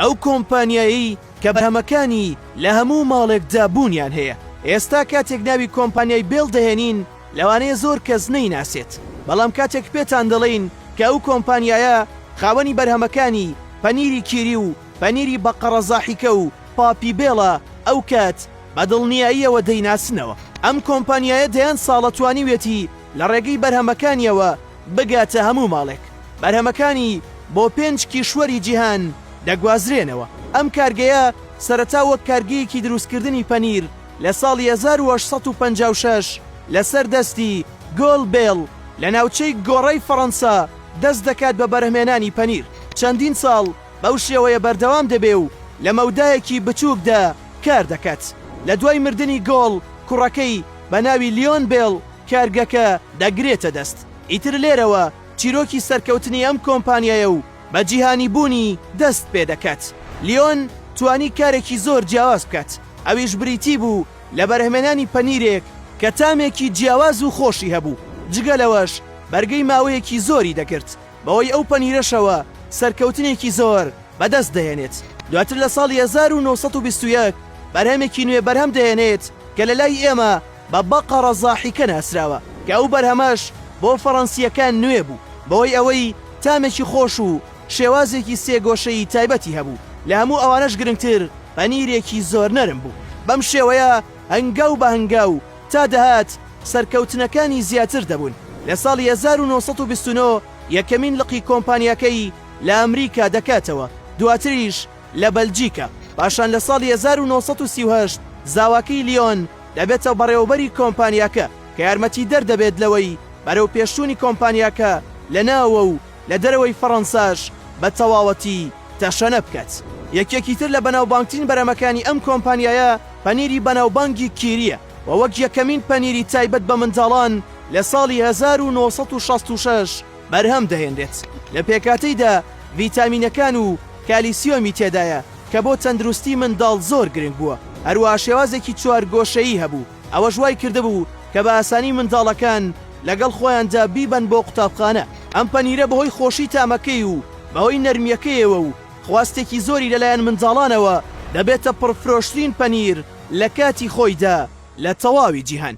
ئەو کۆمپانیایەی کە بەرهەمەکانی لە هەموو ماڵێکدا بوونیان هەیە، ئێستا کاتێک ناوی کۆمپانیای بێڵ دەهێنین لەوانەیە زۆر کەس نەیناسێت، بەڵام کاتێک پێتان دەڵێین کە ئەو کۆمپانیایە خاوەنی بەرهەمەکانی پەنیری کیری و پەنیری بەقەڕە زاحیکە و پاپی بێڵە ئەوکات بە دڵنیاییەوە دەیناسنەوە. ئەم کۆمپانیایە دەیان ساڵە توانیویەتی لە ڕێگەی بەرهەمەکانیەوە، بگاتە هەموو ماڵێک. بەرهەمەکانی بۆ پێنج کیشوەری جیهان دەگوازرێنەوە. ئەم کارگەیە سەرەتا وەک کارگەیەکی دروستکردنی پەنیر لە ساڵی هەزار و هەشت سەد و پەنجا و شەش لەسەر دەستی گۆل بێڵ لە ناوچەی گۆڕەی فەڕەنسا دەست دەکات بە بەرهمێنانی پەنیر. چەندین ساڵ بەو شێوەیە بەردەوام دەبێ و لە مەودایەکی بچووکدا کار دەکات. لە دوای مردنی گۆڵ کوڕەکەی بە ناوی لیۆن بێڵ کارگەکە دەگرێتە دەست. ئیتر لێرەوە چیرۆکی سەرکەوتنی ئەم کۆمپانیایە و بە جیهانی بوونی دەست پێ دەکات. لیۆن توانی کارێکی زۆر جیاواز بکات، ئەویش بریتی بوو لە بەرهەمێنانی پەنیرێک کە تامێکی جیاواز و خۆشی هەبوو، جگە لەوەش بەرگەی ماوەیەکی زۆری دەگرت، بەوەی ئەو پەنیرەشەوە سەرکەوتنێکی زۆر بە دەست دەهێنێت. دواتر لە ساڵی هەزار و نۆ سەد و بیست و یەک بەرهەمێکی نوێ بەرهەم دەهێنێت کە لە لای ئێمە بە بەقەڕە زاحیکە ناسراوە کە ئەو بەرهەمەش بۆ فەڕەنسییەکان نوێ بوو بەوەی ئەوەی تامێکی خۆش و شێوازێکی سێ گۆشەیی تایبەتی هەبوو لە هەموو ئەوانەش گرنگتر پەنیرێکی زۆر نەرم بوو بەم شێوەیە هەنگاو بە هەنگاو تا دەهات سەرکەوتنەکانی زیاتر دەبوون لە ساڵی هەزار و نۆ سەد و بیست و نۆ یەکەمین لقی کۆمپانیاکەی لە ئەمریکا دەکاتەوە دواتریش لە بەلجیکا، پاشان لە ساڵی هەزار و نۆ سەد و سی و هەشت زاواکەی لیۆن دەبێتە بەڕێوەبەری کۆمپانیاکە کە یارمەتیدەر دەبێت لەوەی بەرەوپێشچوونی کۆمپانیاکە لە ناوەوە و لە دەرەوەی فەڕەنساش بە تەواوەتی تەشەنە بکات. یەکێکی تر لە بەناوبانگترین بەرهەمەکانی ئەم کۆمپانیایە پەنیری بەناوبانگی کیرییە و وەک یەکەمین پەنیری تایبەت بە منداڵان لە ساڵی هەزار و نۆ سەد و شەست و شەش، بەرهەم دەهێنرێت، لە پێکهاتەیدا ڤیتامینەکان و کالیسیۆمی تێدایە کە بۆ تەندروستی منداڵ زۆر گرنگ بووە، هەروەها شێوازێکی چوارگۆشەیی هەبوو ئەوەش وای کردبوو کە بە ئاسانی منداڵەکان لەگەڵ خۆیاندا بیبەن بۆ قوتابخانە، ئەم پەنیرە بەهۆی خۆشی تامەکەی و بەهۆی نەرمیەکەیەوە و خواستێکی زۆری لەلایەن منداڵانەوە دەبێتە پڕفرۆشترین پەنیر لە کاتی خۆیدا لە تەواوی جیهان.